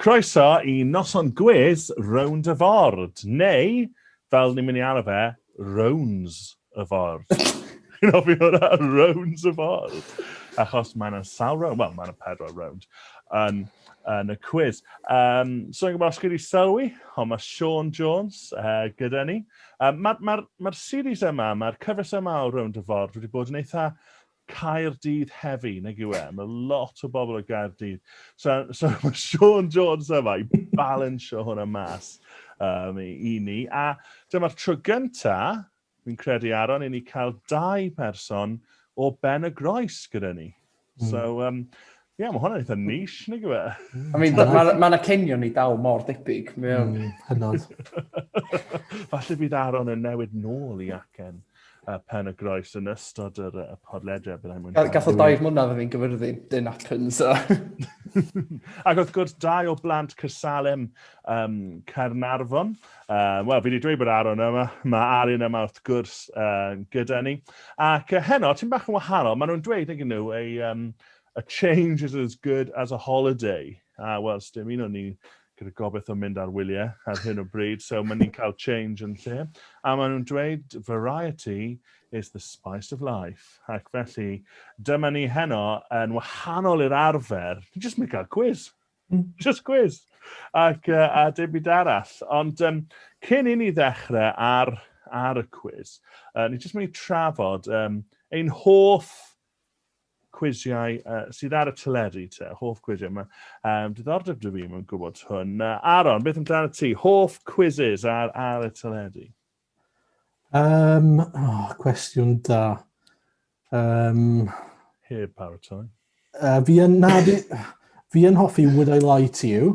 Croeso i Noson Gwis Rownd y Ford, neu, fel ni'n mynd i alw fe, Rowns y Ford. Chi'n hoffi hwnna? Rowns y Ford. Achos mae yna sawl rownd, wel, mae yna pedwar rownd yn, yn y cwis. Um, so, yn gwybod os chi wedi sylwi, ond mae Sean Jones uh, gyda ni. Um, Mae'r ma, ma, ma series yma, mae'r cyfres yma o Rownd y Ford wedi bod yn eitha Caerdydd heavy nag yw e? Mae lot o bobl o Gaerdydd. So, so mae Sean Jones yma i balansio hwnna mas um, i ni. A dyma'r tro gynta, fi'n credu Aaron, i ni cael dau person o Ben y Groes gyda ni. Mm. So, um, Ie, yeah, mae hwnna'n eitha nish, nid yw e? I mean, mae yna ma cenion ni dal mor debyg. Mm, hynod. Falle bydd Aaron yn newid nôl i acen uh, pen y groes yn ystod yr uh, podledra. Gath o dair mlynedd yn fi'n gyfyrddin, dyn acen, so. Ac wrth gwrs, dau o blant Cysalem um, Caernarfon. Uh, Wel, fi wedi dweud bod Aaron yma, mae Arin yma wrth gwrs uh, gyda ni. Ac uh, heno, ti'n bach yn wahanol, maen nhw'n dweud, ydyn nhw, ei um, A change is as good as a holiday. A wel, sdim un o ni gyda gobaith o mynd ar wyliau ar hyn o bryd, so maen ni'n cael change yn lle. A maen nhw'n dweud variety is the spice of life. Ac felly, dyma ni heno yn wahanol i'r arfer. Ni jyst mynd cael quiz. Hmm. Just quiz. Ac, uh, a dim byd arall. Ond um, cyn i ni ddechrau ar, ar y quiz, uh, ni jyst mynd i trafod um, ein hoff cwisiau uh, sydd ar y teledu te, hoff cwisiau. Mae um, diddordeb dy fi mewn gwybod hwn. Uh, Aaron, beth amdano ti? Hoff quizzes ar, ar y teledu? Um, oh, cwestiwn da. Um, Heb paratoi. Uh, fi yn, na, fi, fi yn hoffi Would I Lie To You.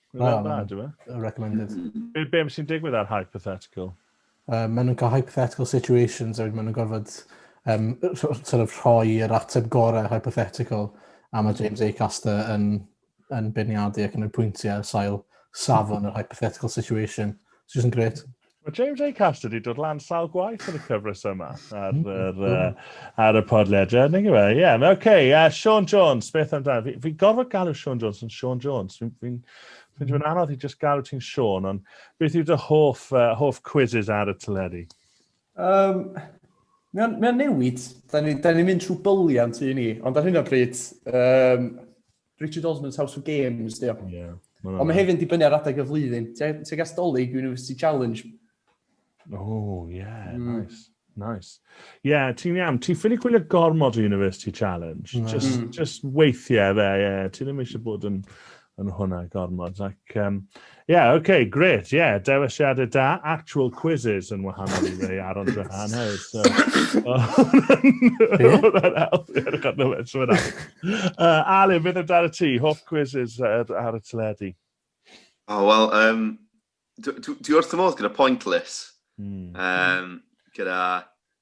Mae'n well, dda, dwi'n meddwl. Recommended. Be, be sy'n digwydd ar hypothetical? Uh, maen nhw'n cael hypothetical situations a maen nhw'n gorfod um, sort of rhoi yr ateb gorau hypothetical a mae James Acaster yn, yn beirniadu ac yn y pwyntiau sail safon yr hypothetical situation. It's just yn gret. Mae James A. Caster wedi dod lan sawl gwaith yn y cyfres yma ar, mm, yr, mm. uh, ar y podlediad. Neu gyfe, ie. Yeah. OK, uh, Sean Jones, beth amdano? Fi, fi gorfod galw Sean Jones yn Sean Jones. Fi'n fi, fi, fi anodd i just galw ti'n Sean, ond beth yw dy hoff, uh, hoff quizzes ar y teledu? Um, Mae'n mae newid. Da ni'n ni, ni mynd trwy byliant i ni, ond ar hyn o bryd, um, Richard Osman's House of Games, dio. Yeah. Ond mae hefyd yn dibynnu ar adeg y flwyddyn. Ti'n gas dolyg University Challenge. Oh, yeah, mm. nice. Nice. Ie, yeah, ti'n iawn. Ti'n ffili gwylio gormod o University Challenge. Mm. Just, mm. just weithiau fe, ie. Yeah. Ti'n ddim eisiau bod yn, yn hwnna gormod. Ac, um, Ie, yeah, oce, okay, gret, ie, yeah, dewisiadau da, actual quizzes yn wahanol i rei ar ond rhan hau, so... Hwna'n help, ie, rhaid na fe, so yna. Ale, mynd amdano ti, hoff quizzes ar, ar y teledu? O, oh, wel, um, dwi wrth y modd gyda pointless, mm. um, gyda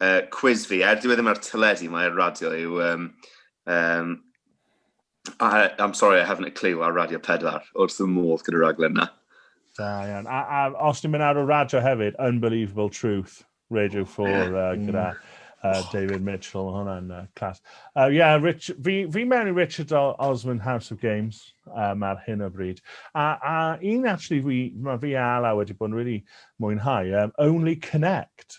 uh, cwiz fi, er dwi e ddim ar teledu, mae ar radio yw... Um, um, I, I'm sorry, I haven't a clue ar Radio 4, wrth fy modd gyda raglen na. Da, iawn. A, a os ni'n mynd ar y radio hefyd, Unbelievable Truth, Radio 4, uh, mm. gyda uh, David Mitchell, hwnna'n uh, clas. Uh, yeah, Rich, fi, fi mewn i Richard Osman House of Games um, ar hyn o bryd. A, a un actually, fi, mae fi a Ala wedi bod yn really mwynhau, um, Only Connect.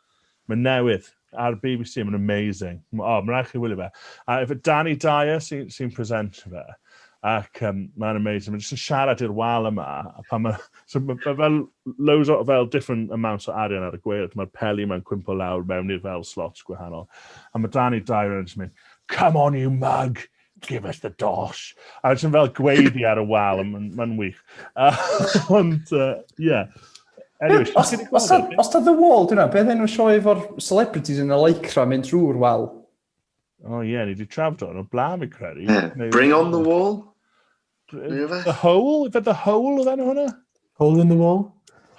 Mae'n newydd ar bbc a mae'n amazing. M- O, mae'n rhaid chi wylio fe. A efo Danny Dyer sy- sy'n presentio fe. Ac um, mae'n amazing. Mae'n jyst yn siarad i'r wal yma. A pan mae... So mae ma fel loads o fel different amounts o arian ar y gweilch. Mae'r peli mae'n cwympo lawr mewn i'r fel slots gwahanol. A mae Danny Dyer yn jyst mynd, Come on you mug! give us the dosh. A ti'n fel gweiddi ar y wal, mae'n ma wych. Ond, ie. Uh, yeah. Anyway, os, os, os ta The Wall, dyna, beth enw sioe efo'r celebrities yn y lycra mynd drwy'r wal? O oh, ie, yeah, ni wedi trafod o'n o blaen, fi credu. Yeah. Bring on the wall? The Hole? Fe The Hole oedd enw hwnna? Hole in the Wall?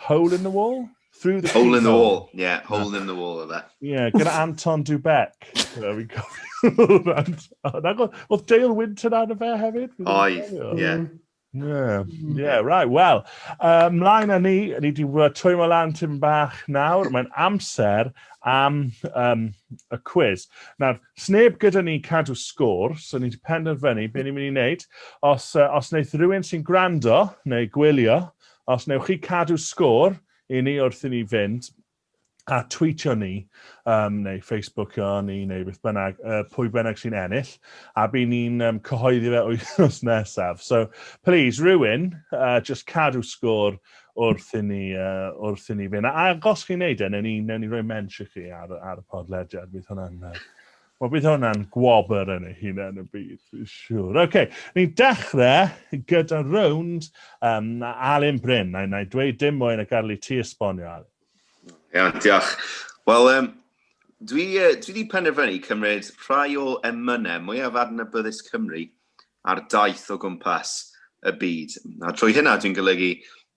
Hole in the Wall? Through the Hole in the Wall, yeah, Hole in the Wall oedd e. Yeah, gyda Anton Dubek. Fi'n cofio. Oedd Dale Winton ar y fe hefyd? Oedd, yeah. Mm. Yeah, mm. yeah, right, well, uh, mlaen â ni, ni wedi twymo lan tyn bach nawr, mae'n amser am um, y quiz. Nawr, Sneb gyda ni i cadw sgôr, so ni 'di penderfynu be ni'n mynd i wneud. Os, uh, os wneith rhywun sy'n gwrando neu gwylio, os wnewch chi cadw sgôr i ni wrth i ni fynd, a tweetio ni, um, neu Facebookio ni, neu beth bynnag, uh, pwy bynnag sy'n ennill, a by ni'n um, cyhoeddi fe wythnos nesaf. So, please, rhywun, uh, just cadw sgôr wrth i ni, uh, wrth i ni fynd. A, a os chi'n neud e, newn ni, newn ni roi mensh i chi ar, ar y podlediad. Bydd hwnna'n... Uh, Wel, bydd hwnna'n gwobr yn ei hunain y byd, fi'n siŵr. OK, ni'n dechrau gyda rownd um, Alun Bryn. Na, na i dweud dim mwy na gadael i ti esbonio, Alun. Ia, diolch. Wel, um, dwi, uh, dwi wedi penderfynu cymryd rhai o emynau mwyaf adnabyddus Cymru ar daith o gwmpas y byd. A trwy hynna dwi'n golygu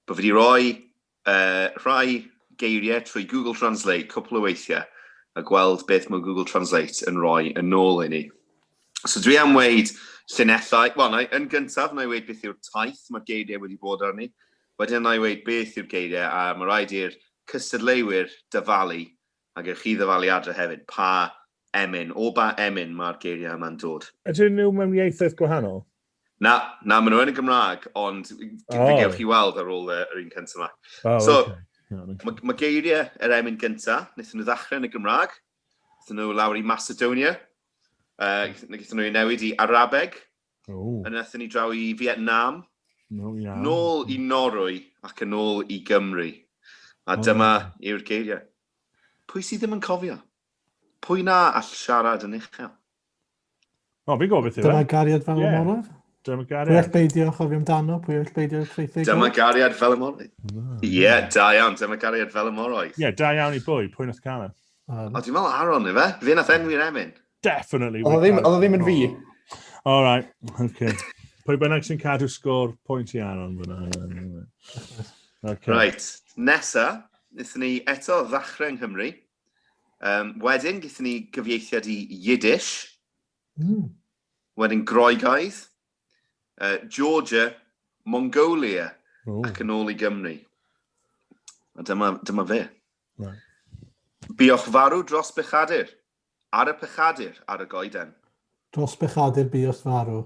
bod fi wedi rhoi uh, rhai geiriau trwy Google Translate cwpl o weithiau a gweld beth mae Google Translate yn rhoi yn ôl i ni. So dwi am weid llunellau, wel, na, yn gyntaf, na i weid beth yw'r taith mae'r geiriau wedi bod arni, wedyn na i weid beth yw'r geiriau, a mae rhaid i'r cystadleuwyr dyfalu, ac ewch chi ddyfalu adre hefyd, pa Emyn. O ba emyn mae'r geiriau yma'n dod? Ydyn nhw mewn ieithoedd gwahanol? Na, na, maen nhw yn y Gymraeg, ond fe gewch chi weld ar ôl yr un cyntaf yma. So, mae geiriau yr emyn gyntaf, wnaethon nhw ddechrau yn y Gymraeg, wnaethon nhw lawr i Macedonia, wnaethon nhw ei newid i Arabeg, a wnaethon ni draw i Fietnam, nôl i Norwy ac yn ôl i Gymru. A dyma yw'r geiriau. Pwy sydd ddim yn cofio? Pwy na all siarad yn uchel? O, fi'n gwybod beth yw e. Dyna gariad fel y yeah. morwyr. Dyna gariad. Pwy all beidio a chofio amdano, pwy all beidio y creithig. Dyma gariad fel y morwyr. Ie, yeah, da iawn, dyma gariad fel y morwyr. Ie, yeah, da iawn i bwy, pwy nath cael e. Um, o, dwi'n meddwl Aaron, efe? Fe nath enwi'r emyn. Definitely. Oedd o ddim yn fi. All right, okay. Pwy bynnag sy'n cadw sgôr pwynt i Aaron fyna. Okay. Right, nesa, nethon ni eto ddachrau yng Nghymru. Um, wedyn, gyda ni gyfieithiad i Yiddish. Mm. Wedyn Groegaidd, uh, Georgia, Mongolia, Ooh. ac yn ôl i Gymru. A dyma, dyma fe. Right. Biwch farw dros bechadur, ar y pechadur, ar y goeden. Dros bechadur biwch farw.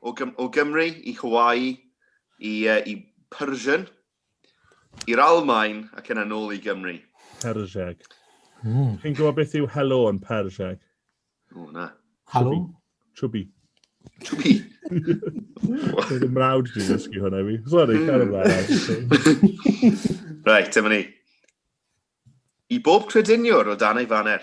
O, Gym o Gymru i Hawaii, i, uh, i Persian, i'r Almain ac yna nôl i Gymru. Persiag. Mm. Chi'n gwybod beth yw helo yn Persiag? O, na. Halo? Chubby. Chubby? Dwi'n y mrawd dwi'n ddysgu hwnna fi. Sorry, hmm. cael ymlaen. Reit, dyma ni. I bob crediniwr o dan ei faner.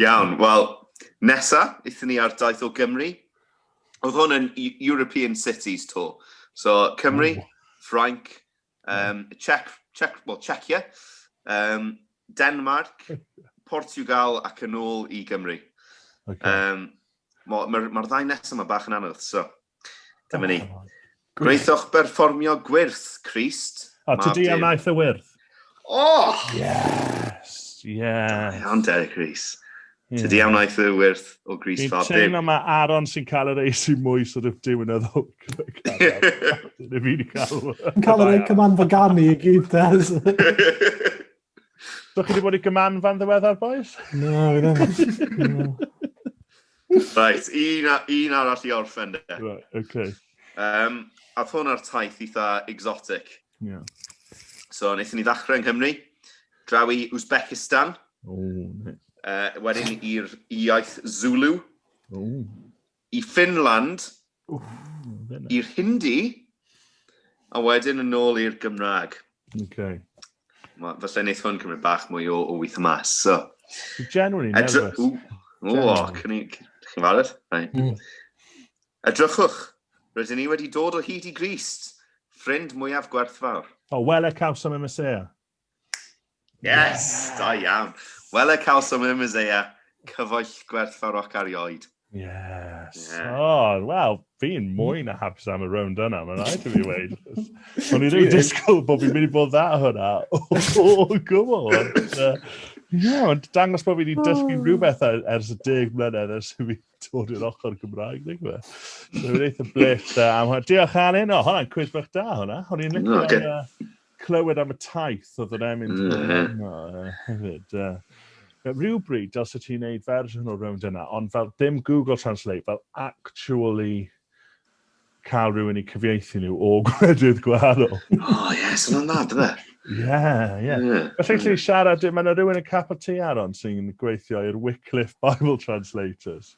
Iawn, wel, nesa, eithon ni ar daith o Gymru. Oedd hwn yn E- European Cities to. So, Cymru, Ww. Ffrainc, um, Czech, Czech, well, Czechia, um, Denmark, Portugal ac yn ôl i Gymru. Okay. Um, Mae'r ma, ma ddau nesaf yma bach yn anodd, so. Dyma ni. Gwnaethoch berfformio gwyrth, Christ. O, ti di am aeth y wyrth? Oh! Yes, yes. Iawn, Derek Rees. Yeah. Tydi am aeth y wyrth o Gris Fab Dim. Fi'n mae Aaron sy'n cael yr eis i mwy, so dwi'n dim yn edrych. Dwi'n fi'n cael. Dwi'n cael yr eich cyman fagani i gyd, Des. Do chi wedi bod i gyman fan ddiweddar, boys? Na, fi ddim. Right, un, un arall i orffen de. Right, okay. Um, a hwn ar taith eitha exotic. Yeah. So, wnaethon ni ddechrau yng Nghymru, draw i Uzbekistan. Oh, nice. Uh, wedyn i'r iaith Zulu. Oh. i Ffinland, i'r Hindi, a wedyn yn ôl i'r Gymraeg. Okay. Mae, felly wneud hwn cymryd bach mwy o, o wyth mas. So, Genuinely nervous. O, cyn i chi farad. Mm. Edrychwch, rydyn ni wedi dod o hyd i Grist, ffrind mwyaf gwerthfawr. O, wele caws am y Mesia. Yes! Da iawn. Wel e cawsom yn Mizea, cyfoell gwerthfaroc arioed. Yes. Yeah. Oh, wel, fi'n mwy na hapus am y rownd yna, mae'n rhaid i fi weid. O'n i ddim yn disgwyl bod fi'n mynd i bod dda hwnna o gwbl. Ie, ond dangos bod fi wedi dysgu oh. rhywbeth ers y deg mlynedd ers i fi dod i'r ochr Gymraeg, dwi'n gwybod. So, fi'n eitha blech da am hwnna. Diolch, Alun. O, hwnna'n cwys bach da, hwnna. O'n i'n licio... clywed am y taith oedd yn emyn mm. yno hefyd. Uh, rhywbryd, os ydych ti'n gwneud fersiwn o rownd yna, ond fel dim Google Translate, fel actually cael rhywun i cyfieithu nhw o gwledydd gwahanol. oh, yes, yna'n dda, dyna. Ie, ie. Felly chi siarad, mae yna rhywun yn capel ti aron sy'n gweithio i'r Wycliffe Bible Translators.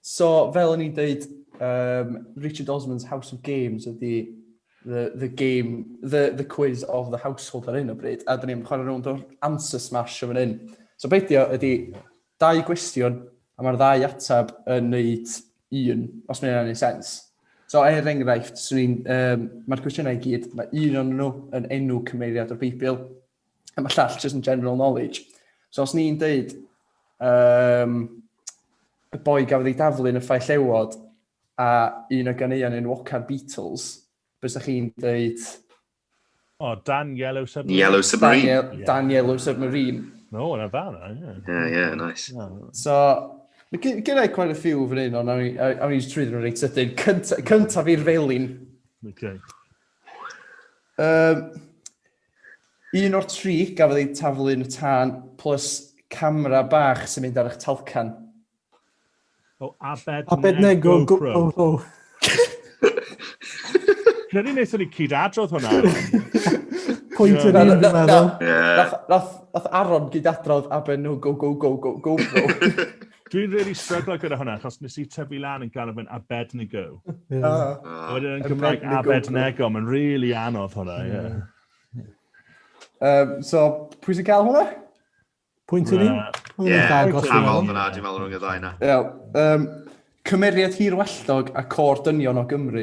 So, fel o'n i'n dweud, um, Richard Osman's House of Games ydy the, the game, the, the quiz of the household ar hyn o bryd, a dyn ni'n chwarae rownd o'r answer smash o fan hyn. So, beidio ydy dau gwestiwn, a mae'r ddau atab yn neud un, os mae'n ei sens. So, er enghraifft, um, mae'r cwestiynau i gyd, mae un o'n nhw yn enw cymeriad o'r Beibl, A mae llall just yn general knowledge. So os ni'n deud, um, y boi gafodd ei daflu yn y ffaith llewod a un o ganeuon yn Wocar Beatles, bys da chi'n deud... O, oh, Dan Yellow Submarine. Yellow Submarine. Dan, yeah. Dan Yellow Submarine. No, yna dda, na. Yeah, yeah, nice. Yeah. So, gyda i quite a few fan hyn, ond awn i'n trwy ddyn reit sydyn. Cyntaf i'r felin. Okay. Um, Un o'r tri gafodd eu taflu yn y tân plus camera bach sy'n mynd ar eich talcan. O, Abed Abednego GoPro. Credu wnaethon ni cyd adrodd hwnna. Pwynt yr un, dwi'n meddwl. Nath Aron gyd adrodd Abednego GoPro. Dwi'n really stryglo gyda hwnna, achos nes i tyfu lan yn galw fe'n Abednego. Yeah. Uh, Wedyn yn Gymraeg Abednego, mae'n really anodd hwnna, ie. Yeah. Yeah. Um, so, pwy sy'n cael hwnna? Pwynt i ni? Ie, canol fyna, dwi'n meddwl rhwng y ddau na. Iawn. Um, cymeriad hirwelltog a cor dynion o Gymru.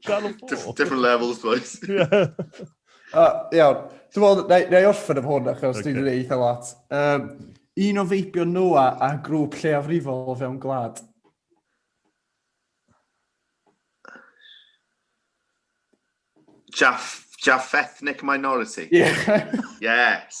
Channel 4. Different levels, boys. Iawn. Dwi'n meddwl, na i orffen am hwn, achos okay. dwi'n ei eitha lot. Um, un o feibio Noa a grŵp lleiafrifol o fewn gwlad. Jaff, Jaff Ethnic Minority. Yeah. yes.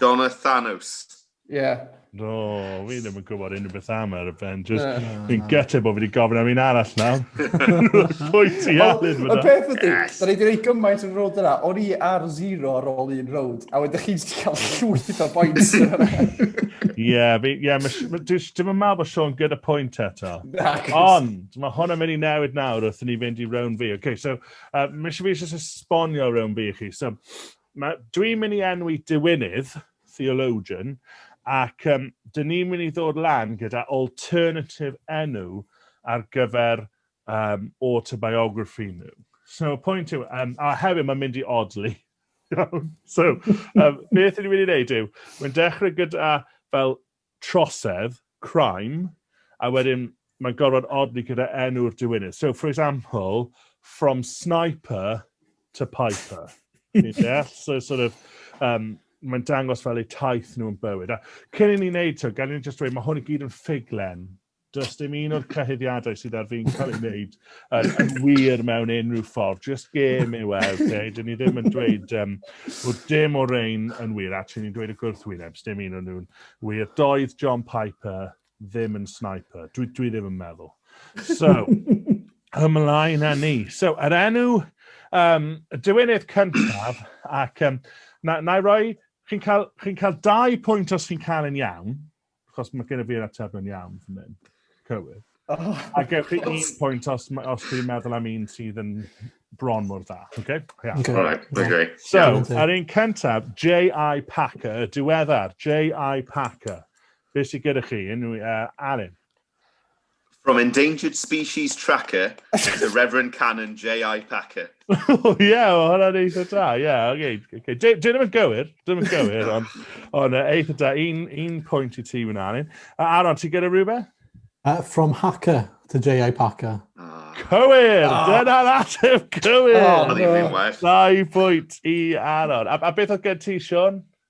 Donna Thanos. Ie. Yeah. No, fi ddim yn gwybod unrhyw beth am yr Avengers. Yeah. Fi'n gyteb bod fi wedi gofyn am un arall na. Pwy ti alun fyna? Y peth ydy, da ni wedi gwneud gymaint yn road yna. O'n i ar zero ar ôl un road, a wedyn chi'n cael llwyth o boints yna. Ie, ie, dim yn meddwl bod Sean gyda pwynt eto. Ond, mae hwn yn mynd i newid nawr wrth ni fynd i rown fi. OK, so, uh, mis i fi eisiau esbonio rown fi i chi. So, Mae, dwi'n mynd i enwi diwinydd, theologian, ac um, dyn ni'n mynd i ddod lan gyda alternative enw ar gyfer um, autobiography nhw. So, y pwynt yw, um, a hefyd mae'n mynd i odli. so, um, beth ni'n mynd i wneud yw, mae'n dechrau gyda fel trosedd, crime, a wedyn mae'n gorfod odli gyda enw'r diwinydd. So, for example, from sniper to piper. Fi'n deall? So, sort of, um, mae'n dangos fel eu taith nhw'n bywyd. A cyn i ni wneud to, gan i'n just dweud, mae hwn i gyd yn ffuglen. Does dim un o'r cyhuddiadau sydd ar fi'n cael ei wneud yn, yn wir mewn unrhyw ffordd. Just gêm yw e, okay? Dyn ni ddim yn dweud um, bod dim o'r ein yn wir. Actually, ni'n dweud y gwrthwyneb, dim un o'n nhw'n wir. Doedd John Piper ddim yn sniper. Dwi, dwi ddim yn meddwl. So, ymlaen â ni. So, yr enw um, dywenydd cyntaf, ac um, na, na i roi, chi'n cael, chi cael dau pwynt os chi'n cael yn iawn, Chos mae gen i fi'r atebion iawn fan hyn. Cywir. Oh, a gewch chi un pwynt os, os chi'n meddwl am un sydd yn bron mor dda. Okay? Yeah. Okay. Right, okay. So, yeah, ar un cyntaf, J.I. Packer, y diweddar, J.I. Packer. Be sy'n gyda chi? Unrhyw, uh, Arin? From Endangered Species Tracker to Reverend Canon J.I. Packer. O, ie, o, hwnna'n eitha da, ie, yeah, oce. Okay, okay. Dwi ddim yn gywir, dwi ddim yn gywir, ond on, uh, eitha da, un, un pwynt i ti wna ni. Uh, Aron, ti gyda rhywbeth? Uh, from Hacker to J.I. Packer. Ah. Cywir! Oh. Dyna'r ateb cywir! Oh, no. Dau pwynt i Aron. A, a beth oedd gen ti, Sean?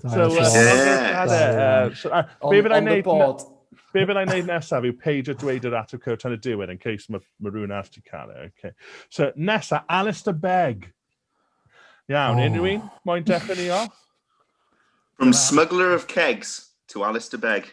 So, uh, yeah. yeah. so, uh, be fydd i'n neud... Be fydd i'n neud nesaf yw page o dweud yr atw cywir tan y diwedd yn case mae ma rhywun arall ti cael e. Okay. So, nesaf, Alistair Begg. Iawn, oh. unrhyw un? Moyn dechrau ni off? From Smuggler of Kegs to Alistair Begg.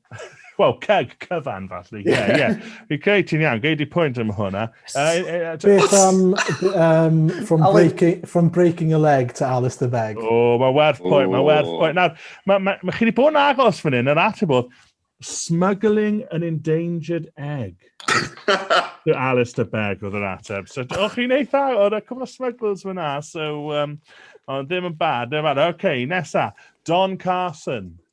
Wel, ceg cyfan, falle. Ie, ie. Fi creu ti'n iawn, gei di pwynt am hwnna. Beth am um, from, breaking, from breaking a leg to Alice the Beg? O, oh, mae werth pwynt, mae werth pwynt. Nawr, mae ma, ma chi wedi bod yn agos fan hyn, yr ateb oedd, smuggling an endangered egg. to Alice the Beg oedd yr ateb. So, o chi'n eitha, oedd y cwbl o smugglers fyna, so, um, ond ddim yn bad, ddim yn bad. Oce, okay, nesa, Don Carson.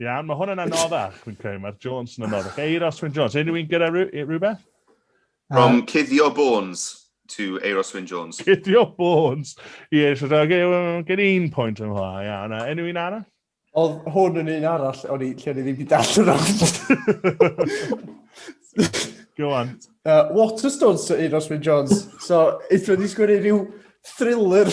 Iawn, mae hwn yn anoddach, fi'n credu. Mae'r Jones yn anoddach. Eiros Wyn Jones. Unrhyw un gyda rhywbeth? From uh, Cuddio Bones to Eiros Wyn Jones. Cuddio Bones i Eiros Wyn Jones. Gen i'n pwynt yn hwnna, iawn. Unrhyw un arall? Oedd hwn yn un arall, o'n i, lle o'n i ddim wedi darllen o'n. Go on. Uh, Waterstones to Eiros Wyn Jones. So, eitha ni sgwini rhyw thriller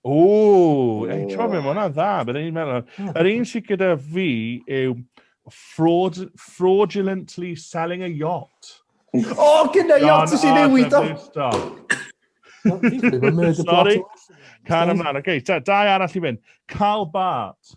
O, ei, ti'n meddwl, hwnna'n dda, bydd e'n meddwl. Yr un sy'n gyda fi yw fraud, fraudulently selling a yacht. O, oh, gyda yacht sy'n newid o! Sorry, can ymlaen. Oce, okay, dau arall i fynd. Carl Bart.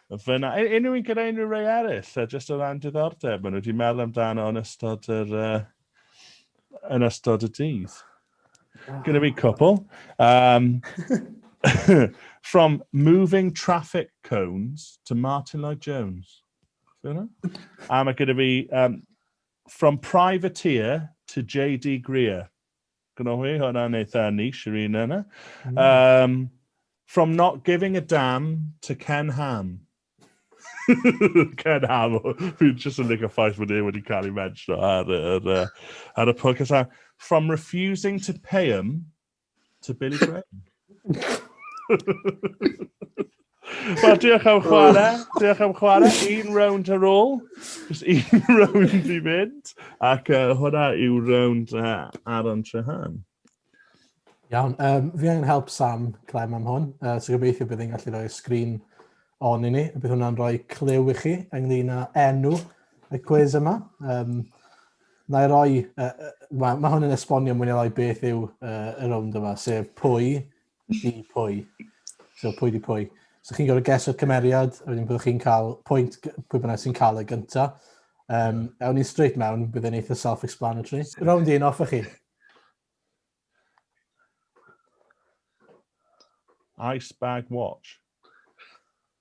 Fyna, e, unrhyw un gyda unrhyw rei eraill, uh, just o ran diddordeb, maen nhw wedi meddwl amdano yn ystod yr... Uh, yn ystod y dydd. Gyda fi cwpl. Um, from moving traffic cones to Martin Lloyd Jones. Am um, y gyda fi, um, from privateer to J.D. Greer. Gnohi hwnna'n eitha niche yr un yna. Um, from not giving a damn to Ken Ham. Ken Ham, fi'n just yn licio ffaith bod e wedi cael ei mention ar, ar, ar, ar y podcast. From refusing to pay him to Billy Graham. Wel, diolch am chwarae. Diolch am chwarae. Un round ar ôl. Just un round i fynd. Ac uh, hwnna yw round uh, Aaron Trehan. Iawn. Um, fi angen help Sam Clem am hwn. Uh, so gobeithio bydd yn gallu rhoi sgrin on i ni. Bydd hwnna'n rhoi clyw i chi ynglyn â enw y cwys yma. Um, Na i roi, uh, mae ma hwn yn esbonio mwy neu lai beth yw uh, y rownd yma, sef pwy di pwy. So pwy di pwy. So chi'n gorfod geso'r cymeriad, a wedyn byddwch chi'n cael pwynt pwy bynnag sy'n cael y gyntaf. Um, ewn ni'n straight mewn, bydd e'n eitha self-explanatory. Rownd un off chi. Ice bag watch.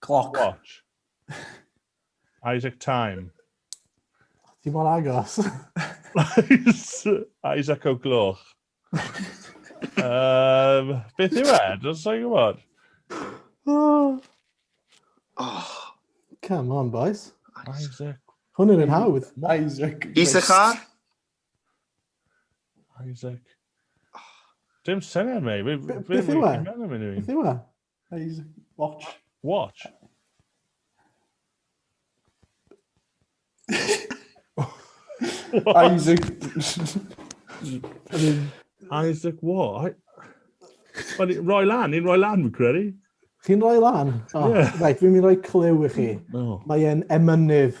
Cloc. Watch. Isaac Time. Ti mor agos. Isaac o gloch. um, beth yw e? Dwi'n sa'n gwybod. Oh. oh. Come on, boys. Isaac. Hwn yn hawdd. Isaac. Isaac ar? Isaac. Dim syniad, mei. Beth yw e? Beth yw e? Please, watch. Watch? Isaac... Isaac what? Wel, roi lan, ni'n roi lan, fi'n credu. Chi'n roi lan? Oh, yeah. Right, fi'n mynd roi clyw i chi. Oh. Mae e'n emynydd.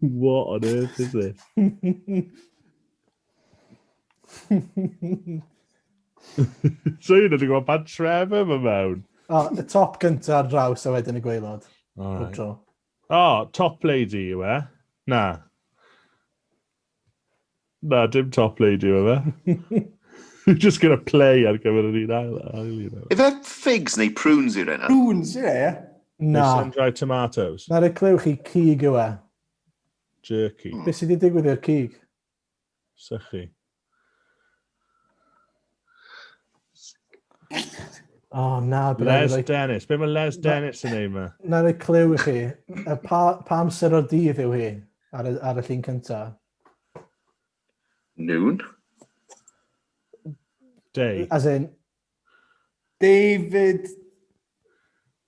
What on earth is this? so you wedi gweld pan tref yma mewn. O, y top gyntaf ar draws a wedyn y gweilod. All right. O, oh, top lady yw e? Na. Na, dim top lady yw e. You're just going to play ar gyfer yr un ail. ail un ail. Efe figs neu prunes i'r enw? Prunes, ie. Yeah. Na. Sun-dried tomatoes. Na'r y clyw chi cig yw e. Jerky. Hmm. Beth sydd wedi digwydd i'r cig? Sychu. Oh, na, Les like... Dennis. Be mae Les Dennis yn ei ma? Na, roi clyw i chi. Pa, pa amser o'r dydd yw hi ar, y, ar y llun cyntaf? Noon. Day. As in... David...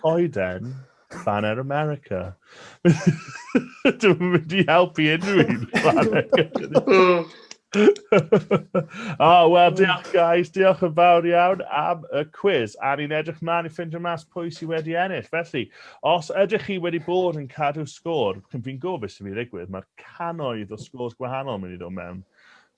Coeden, Banner America. Dwi'n mynd i helpu unrhyw un. oh, wel, diolch guys, diolch yn fawr iawn am y quiz. A ni'n edrych mlaen i ffindio mas pwy sydd wedi ennill. Felly, os ydych chi wedi bod yn cadw sgôr, fi'n gofio beth sy'n mynd i ddigwydd, mae'r canoedd o sgôrs gwahanol yn mynd i ddod mewn.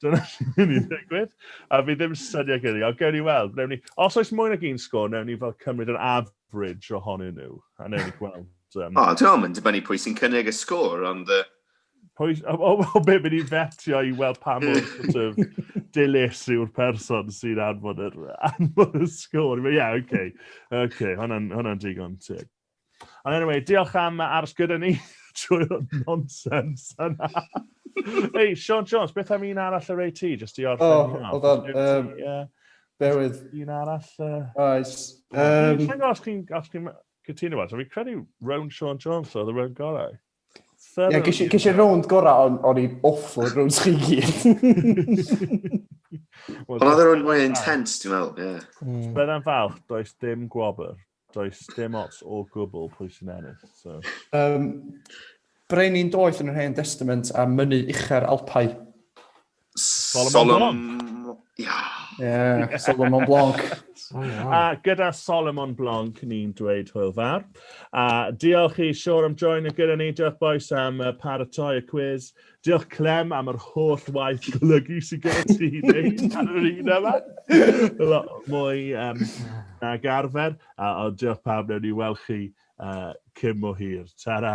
Dyna sy'n mynd i ddigwydd. A fi ddim syniad gyda ni, ond gewn ni weld. Newn ni, os oes mwy nag un sgwr, newn ni fel cymryd yr average ohonyn nhw. A newn ni gweld. Um... O, dwi'n mynd i dibynnu pwy sy'n cynnig y sgwr, ond... Uh... Pwy, o, o, o be, mynd i fetio i weld pa mor sort of dilys yw'r person sy'n anfod yr, anfod y sgwr. Ie, yeah, oce. Okay. Oce, okay, hwnna'n hwnna digon teg. Ond anyway, diolch am aros gyda ni trwy'r nonsens yna. Hei, Sean Jones, beth am un arall yr ei ti, jyst i orffen? O, oh, hold on. Bewydd. Un arall. Oes. Dwi'n gwybod os chi'n cytuno fo, so fi'n credu round Sean Jones oedd y round gorau. Ie, ges i rownd gorau, ond o'n i'n awful rownd chi gyd. Ond oedd yr un mwy intense, ti'n meddwl, ie. Byddai'n falch, does dim gwobr. Does dim ots o gwbl pwy sy'n ennill, so... Um, Brenin doeth yn yr Hen Testament a mynnu uchau'r Alpau. Solomon Blanc. Yeah, Solomon Blanc. a gyda Solomon Blanc ni'n dweud hwyl fawr. A diolch i Sior am join y gyda ni. Diolch boes am paratoi y quiz. Diolch Clem am yr holl waith golygu sy'n gyda ti i wneud ar yr un yma. Lot mwy um, na garfer, a o diolch pawb, newn ni weld chi uh, cym o hir. Ta-ra!